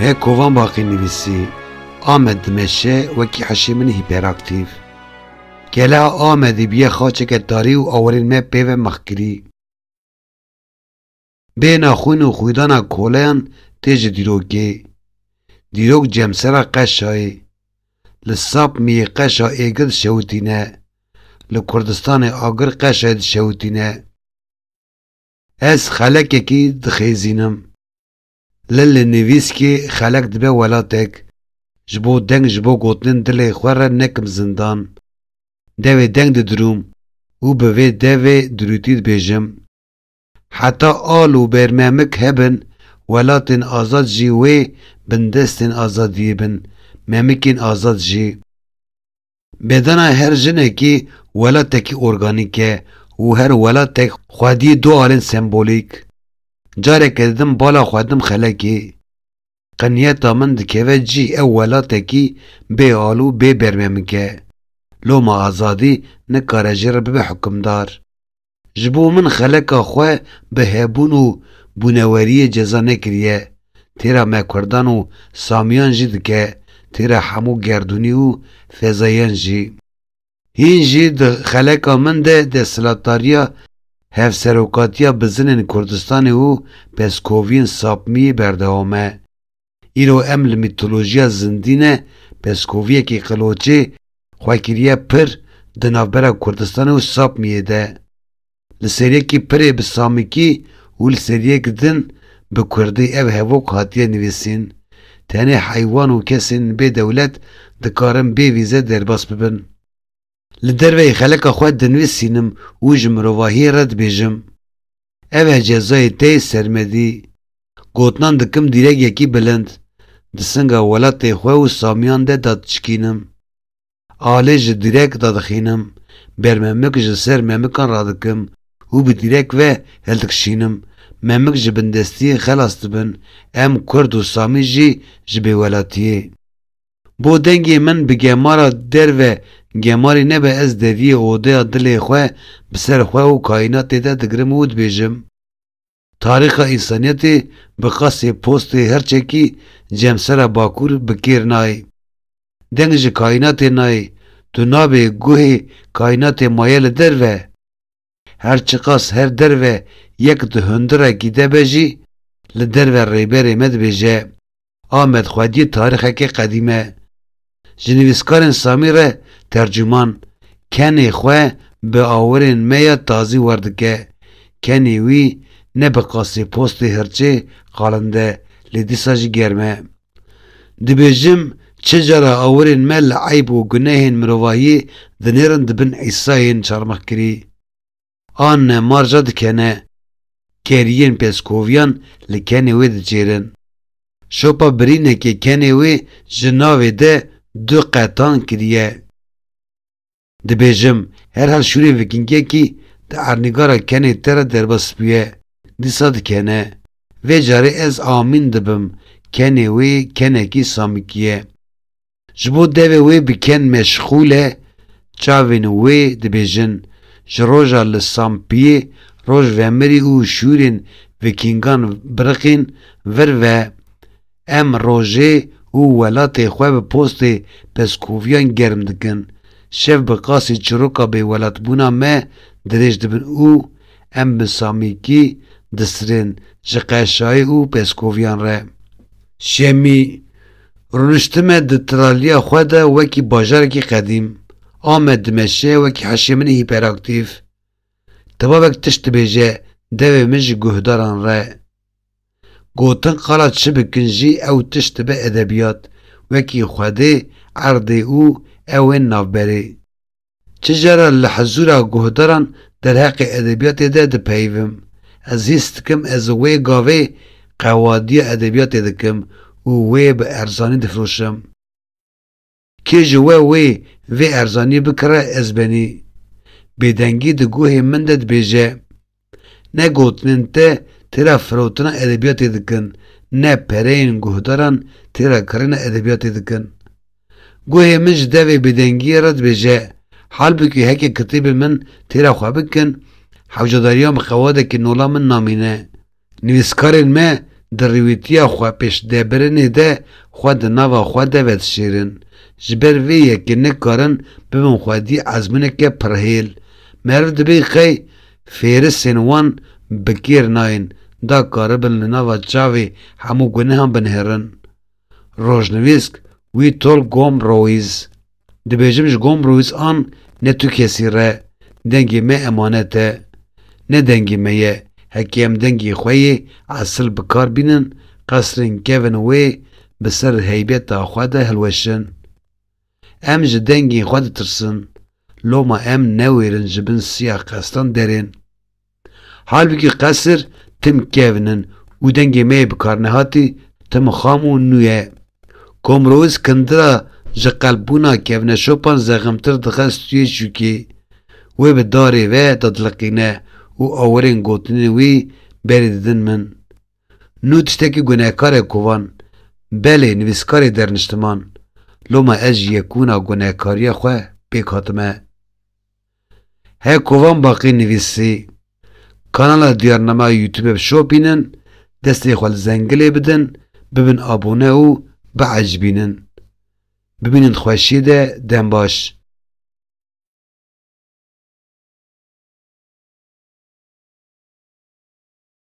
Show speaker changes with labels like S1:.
S1: Hê kovan baqî nivîsî Amed dimeşe wekî heşê min hîperaktîv. Gele Amedî bîye xaçeke tarî û awerên me pê ve mexkirî. Bêhna xwîn û xwîdana koleyan tê ji dîrokê. Dîrok cemsera qeşa yê. Li sap miyê qeşa êgir dişewitîne. Li Kurdistanê agir qeşayê dişewitîne. Ez xelekekî dixêzînim. Li li nivîskê xelek dibe welatek. Ji bo deng ji bo gotinên dilê xwe re nekim zindan. Devê deng didirûm û bi vê devê dirûtî dibêjim. Heta al û bêrmemik hebin, welatên azad jî wê bindestên azadiyê bin, memikên azad jî. Bedena her jinekî welatekî organîk e û her welatek xwediyê du alên sembolîk. Careke didim bala xwe dim xelekê. Qinyeta min dikeve cî ew welatekî bê al û bê bermemik e. Loma azadî nikare ji re bibe hukimdar. Ji bo min xeleka xwe bi hebûn û bûneweriyê ceza nekiriye, têra me Kurdan û Samiyan jî dike, têra hemû gerdûnî û fezayan jî. Hîn jî di xeleka min de desthilatdariya Hevserokatiya Bizinên Kurdistanê û Peskoviyên Sapmiyê berdewam e. Îro em li mîtolojiya zindî ne peskoviyekî qiloçê xwe kiriye pir di navbera Kurdistanê û Sapmiyê de. Li ser yekî pirê bi samikî û li ser yek din bi kurdî ev hevok hatiye nivîsîn. Tenê heywan û kesên bê dewlet dikarin bê vîze derbas bibin. Li derveyî xeleka xwe dinivîsînim û ji mirovahiyê re dibêjim. Ev e cezayê te yê sermedî. Gotinan dikim dîrek yekî bilind, di singa welatê xwe û Samiyan de dadiçikînim. Alê ji dîrek dadixînim, bermemik ji ser memikan radikim û bi dîrek ve hildikişînim, memik ji bindestiyê xelas dibin, em Kurd û Samî jî ji bêwelatiyê. Bo dengê min bi gemara derve gemarî nebe ez deviyê odeya dilê xwe bi ser xwe û kayînatê de digirim û dibêjim, Tarîxa însaniyetê bi qasê postê her çekî cemsera bakur bi kêr nayê. Deng ji kayînatê nayê, tu nabê guhê kayînatê maye li derve. Her çiqas her derve yek di hundirekî de be jî, li derve rêberê me dibêje, Amed xwediyê tarîxekê qedîm e. Ji nivîskarên Samî re tercuman, kenê xwe bi awirên me ya tazî werdike. Kenê wî ne bi qasê postê hirçê qalinde, lê dîsa jî germ e. Dibêjim, çi cara awirên me li eyb û gunehên mirovahiyê dinêrin di bin Îsayên çarmixkirî. An ne marja dikene, keriyên pêskoviyan li kenê wê dicêrin. Şopa birînekê kenê wê ji navê de du qetan kiriye. Dibêjim, herhal şûrê vikingekî di ernîgara kenê te re derbasbûye, dîsa dikene. Vê carê ez amîn dibim, kenê wê kenekî samikî ye. Ji bo devê wê bi ken meşxûl e, çavên wê dibêjin, ji roja li sampiyê roj vemirî û şûrên vikingan biriqîn vir ve. Em rojê û welatê xwe bi postê pezkoviyan germ dikin, şev bi qasî çiroka bêwelatbûna me dirêj dibin û em bi samîkî disirên ji qeşayê û pezkoviyan re. Şemî, Rûniştime di tiraliya xwe de wekî bajarekî qedîm, ame dimeşe wekî heşê min hîperaktîf. Tevavek tişt dibêje devê min ji guhdaran re. Gotin qala çi bikin jî ew tişt dibe edebiyat, wekî xwedê, erdê û ewên navberê. Çi cara li hizûra guhdaran derheqê edebiyatê de dipeyivim, ez hîs dikim ez wê gavê qewadiya edebiyatê dikim û wê bi erzanî difiroşim. Kê ji we wê vê erzanî bikire ez benî. Bêdengî di guhê min de dibêje. Ne gotinên te têra firotina edebiyatê dikin, ne pereyên guhdaran têra kirina edebiyatê dikin. Guhê min ji devê bêdengiyê re dibêje, halbikî heke kitêbên min têra xwe bikin, hewcadariya min xewadekî nola min namîne. Nivîskarên me di rêwîtiya xwepêşdebirinê de xwe di nava xwe de vedişêrin. Ji ber vê yekê nikarin bibin xwedî ezmûneke pirhêl. Meriv dibê qey fêrisên wan bi kêr nayên da karibin li nava çavê hemû gunihan binihêrin. Rojnivîsk, Wîtolgom Roîz. Dibêjim ji Gombrowîs an ne tu kesî re, dengê me emanet e. Ne dengê me ye, heke em dengê xwe yê esil bi kar bînin, qesrên kevin wê bi ser heybeta xwe de hilweşin. Em ji dengên xwe ditirsin, loma em newêrin ji bin siya qesran derên. Halbikî qesir tim kevn in û dengê me yê bikarnehatî tim xam û nû ye. Komrowî Skindira ji qelpbûna kevneşopan zexmtir dixe stûyê çûkê. Wê bi darê ve dadiliqîne û awirên gotinên wî berî didin min. Nû tiştekî gunehkar e kovan. Belê nivîskarê derniştiman. Loma ez ji yekûna gunehkariya xwe pêk hatime. Her ku van baqî nivîsî, kanala Diyarnama Youtube bişopînin, destê xwe li zengilê bidin, bibin abone û biecbînin. Bimînin di xweşiyê de, dem baş.